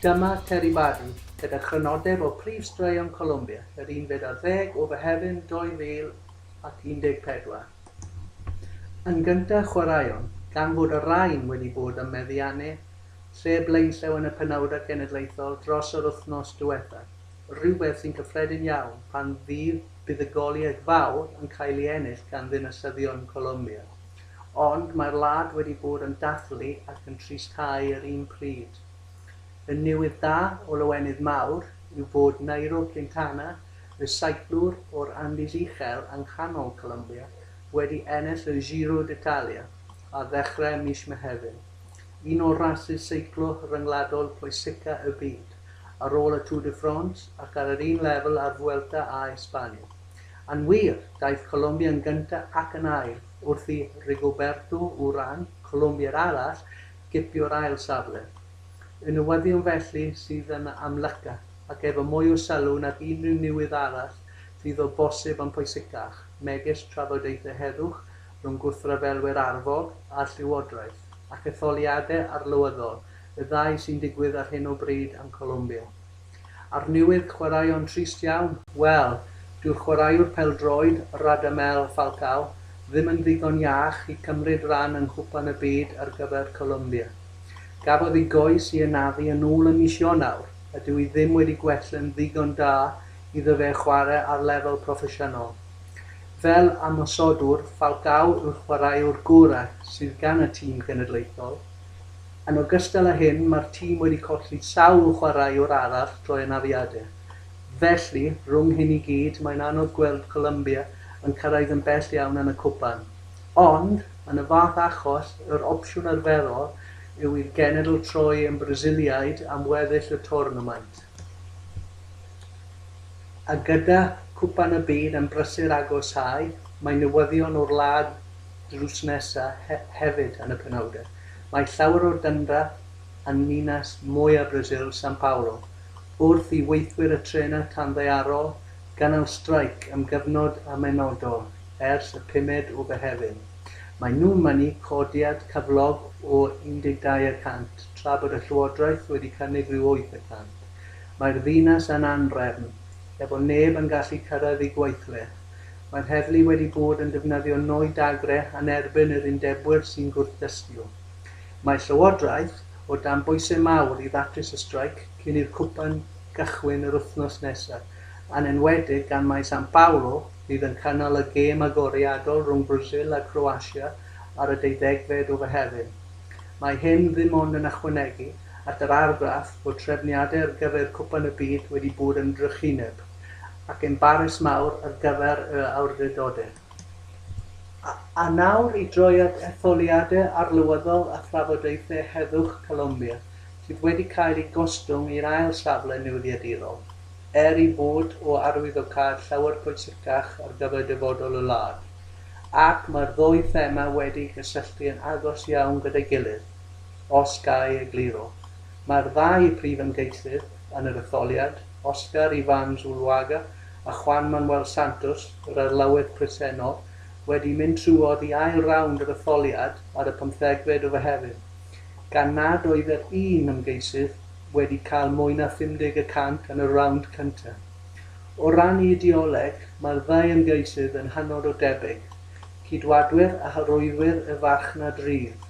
Dyma Terry Barton gyda chrynodeb o prif straeon Colombia yr unfed ar ddeg o Fehefin 2014. Yn gyntaf, chwaraeon, gan fod y rhain wedi bod ym meddiannu lle blaenllaw yn y penawdau cenedlaethol dros yr wythnos diwethaf, rhywbeth sy'n gyffredin iawn pan fydd buddugoliaeth fawr yn cael ei ennill gan ddinasyddion Colombia. Ond mae'r wlad wedi bod yn dathlu ac yn trist cau yr un pryd. Y newydd da o lawenydd mawr yw bod Nairo Quintana recyclwr o'r Andes Uchel yng nghanol Colombia, wedi ennill y Giro d'Italia ar ddechrau mis Mehefin, un o rasys seiclo ryngwladol pwysica y byd, ar ôl y Tour de France ac ar yr un lefel â'r Vuelta a Esbania. Yn wir, daeth Colombia yn gyntaf ac yn ail wrth i Rigoberto Urán, Colombiad arall, gipio'r ail safle. Y newyddion felly sydd yn amlyca. ac efo mwy o sylw nag unrhyw niwydd arall fydd o bosib yn pwysicach, megis trafodaethau heddwch rhwng gwrthryfelwyr arfog a'r llywodraeth, ac etholiadau arlywyddol, y ddau sy'n digwydd ar hyn o bryd yn Colombia. A'r niwydd chwaraeon trist iawn? Wel, dyw'r chwaraewr pêl-droed, Radamel Falcao, ddim yn ddigon iach i cymryd ran yng Nghwpan y Byd ar gyfer Colombia. Gafodd ei goes i anafu yn ôl yn mis Ionawr, a dyw hi ddim wedi gwell yn ddigon da iddo fe chwarae ar lefel proffesiynol. Fel ymosodwr, Falcao yw'r chwaraewr gorau sydd gan y tîm genedlaethol. Yn ogystal â hyn, mae'r tîm wedi colli sawl chwaraewr arall drwy anafiadau. Felly, rhwng hyn i gyd, mae'n anodd gweld Colombia yn cyrraedd yn bell iawn yn y cwpan. Ond, yn y fath achos, yr opsiwn arferol yw i'r genedl troi yn Brasiliaid am weddill y twrnamaint. A gyda Cwpan y Byd yn brysur agosáu, mae newyddion o'r wlad drws nesa hefyd yn y penawdau. Mae llawer o dyndra yn ninas mwya Brasil, São Paulo, wrth i weithwyr y trenau tanddaearol gynnal streic am gyfnod amhenodol ers y pumed o Fehefin. Maen nhw'n mynnu codiad cyflog o 12 y cant tra bod y Llywodraeth wedi cynnig rhyw 8 y cant. Mae'r ddinas yn anrefn, efo neb yn gallu cyrraedd eu gweithle. Mae'r heddlu wedi bod yn defnyddio nwy dagre yn erbyn yr undebwyr sy'n gwrthdystio. Mae Llywodraeth o dan bwysau mawr i ddatrys y streic cyn i'r cwpan gychwyn yr wythnos nesaf, yn enwedig gan mai San Paolo, fydd yn cynnal y gêm agoriadol rhwng Brasil a Croatia ar y deuddegfed o Fehefin. Mae hyn ddim ond yn ychwanegu at yr argraff fod trefniadau ar gyfer Cwpan y Byd wedi bod yn drychineb ac yn barus mawr ar gyfer y awdurdodau. A nawr i droi at etholiadau arlywyddol a thrafodaethau heddwch Colombia, sydd wedi cael eu gostwng i'r ail safle newyddiadurol. er ei bod o arwyddocâd llawer pwysicach ar gyfer dyfodol y wlad, ac mae'r ddwy thema wedi'u cysylltu yn agos iawn gyda'i gilydd, os ga i egluro. Mae'r ddau brif ymgeisydd yn yr etholiad, Oscar Ivan Zuluaga a Juan Manuel Santos, yr arlywydd presennol, wedi mynd trwodd i ail rownd yr etholiad ar y pymthegfed o Fehefin, gan nad oedd yr un ymgeisydd wedi cael mwy na 50 y cant yn y rownd cyntaf. O ran ei ideoleg, mae'r ddau ymgeisydd yn hynod o debyg, Ceidwadwyr a Horwyddwyr y Farchnad Rydd.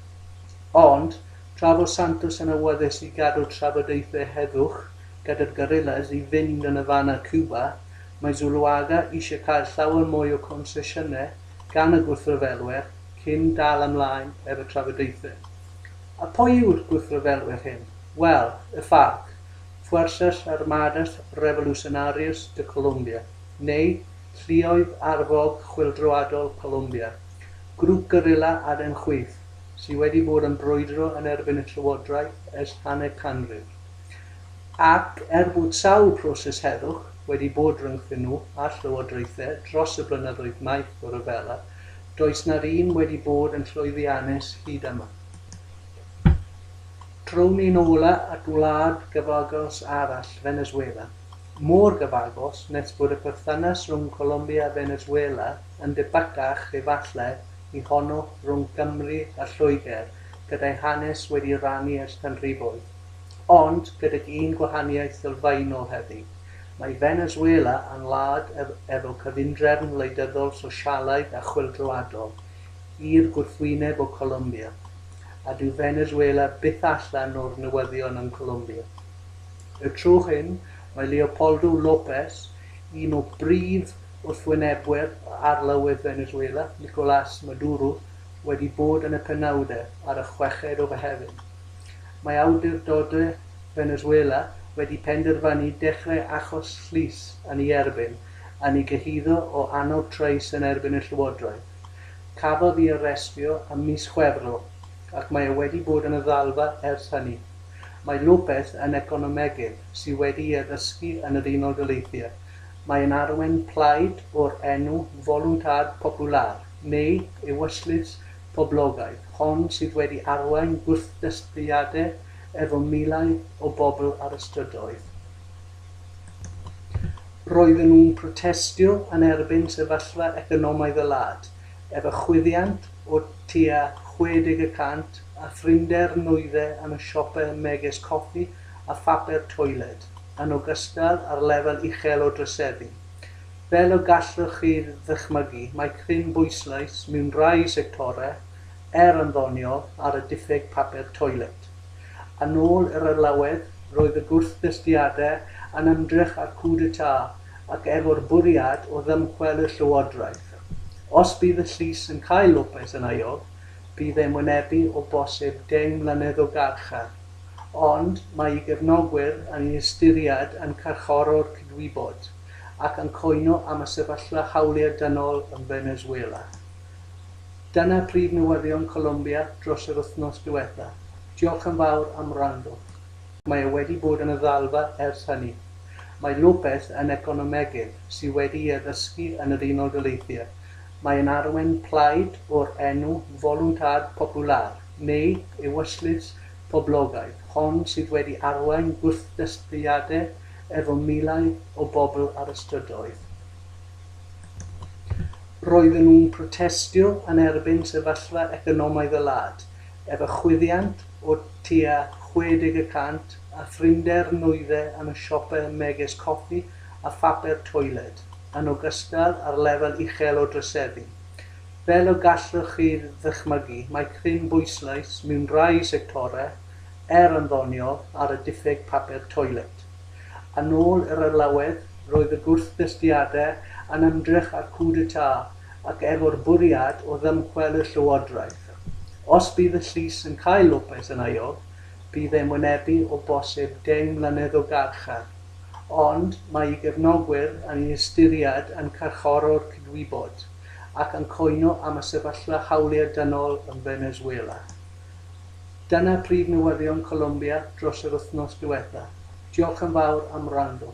Ond, tra fo Santos yn awyddus i gadw trafodaethau heddwch gyda'r Guerrillas i fynd yn y fan â Cuba, mae Zuluaga eisiau cael llawer mwy o gonsesiynau gan y gwrthryfelwyr cyn dal ymlaen efo trafodaethau. A pwy yw'r gwrthryfelwyr hyn? Wel, y FARC, Fuerzas Armadas Revolucionarias de Colombia, neu Lluoedd Arfog Chwyldroadol Colombia, grŵp gerilla aden chwith sydd wedi bod yn brwydro yn erbyn y llywodraeth ers hanner canrif, ac er bod sawl proses heddwch wedi bod rhyngthyn nhw a'r llywodraethau dros y blynyddoedd maith o ryfela, does na'r un wedi bod yn llwyddiannus hyd yma. Draw'n ni'n ôl at wlad gyfagos arall, Feneswela. Mor gyfagos nes bod y perthynas rhwng Colombia a Feneswela yn debycach, efallai, i honno rhwng Cymru a Lloegr, gyda'i hanes wedi rannu ers canrifoedd. Ond, gydag un gwahaniaeth sylfaenol heddi. Mae Feneswela yn wlad efo cyfundrefn wleidyddol sosialaidd a chwyldroadol, i'r gwrthwyneb o Colombia. a dyw Venezuela byth allan o'r newyddion yn Colombia. Y tro hyn, mae Leopoldo López, un o brif wrthwynebwyr arlywydd Venezuela, Nicolás Maduro, wedi bod yn y penawdau ar y chweched o Fehefin. Mae awdurdodau Venezuela wedi penderfynu dechrau achos llys yn ei erbyn yn ei gyhuddo o annog trais yn erbyn y llywodraeth. Cafodd i arestio ym mis Chwefror ac mae e wedi bod yn y ddalfa ers hynny. Mae Lopez yn economegydd sydd wedi'i addysgu yn yr Unol Daleithiau. Mae yn arwain plaid o'r enw Voluntad Popular, neu Ewyllys Poblogaidd, hon sydd wedi arwain gwrthddisgwyliadau efo miloedd o bobl ar y strydoedd. Roedden nhw'n protestio yn erbyn sefyllfa economaidd y wlad, efo chwyddiant o tua 60 y cant a phrinder nwyddau yn y siopau megis coffi a phapur toiled, yn ogystal â'r lefel uchel o droseddu. Fel y gallwch chi ddychmygu, mae cryn bwyslais mewn rhai sectorau, er yn ddoniol, ar y diffyg papur toiled. Yn ôl yr arlawedd, roedd y gwrthdystiadau yn ymdrech â'r coup d'état ac efo'r bwriad o ddymchwel y llywodraeth. Os bydd y llys yn cael Lopez yn aelod, bydd e'n wynebu o bosib deng mlynedd o garchar. Ond mae ei gefnogwyr yn ei ystyried yn carcharor cydwybod ac yn cwyno am y sefyllfa hawliau dynol yn Venezuela. Dyna prif newyddion Colombia dros yr wythnos diwetha. Diolch yn fawr am wrando. Mae e wedi bod yn y ddalfa ers hynny. Mae Lopez yn economegydd sy wedi'i addysgu yn yr Unol Daleithiau. Mae e'n arwain plaid o'r enw Voluntad Popular, neu Ewyllys Poblogaidd, hon sydd wedi arwain gwrthdystiadau efo miloedd o bobl ar y strydoedd. Roedden nhw'n protestio yn erbyn sefyllfa economaidd y wlad, efo chwyddiant o tua 60 y cant a phrinder nwydde yn y siopau megis coffi a phapur toiled, yn ogystal â'r lefel uchel o droseddu. Fel y gallwch chi ddychmygu, mae cryn bwyslais mewn rhai sectorau, er yn ddoniol, ar y diffyg papur toiled. Yn ôl yr arlawedd, roedd y gwrthdystiadau yn ymdrech â'r coup d'état ac efo'r bwriad o ddymchwel y llywodraeth. Os bydd y llys yn cael Lopez yn aeog, bydd e'n wynebu o bosib deng mlynedd o garchar. Ond mae ei gefnogwyr yn ei ystyried yn carcharor cydwybod ac yn cwyno am y sefyllfa hawliau dynol yn Venezuela. Dyna prif newyddion Colombia dros yr wythnos diwetha. Diolch yn fawr am wrando.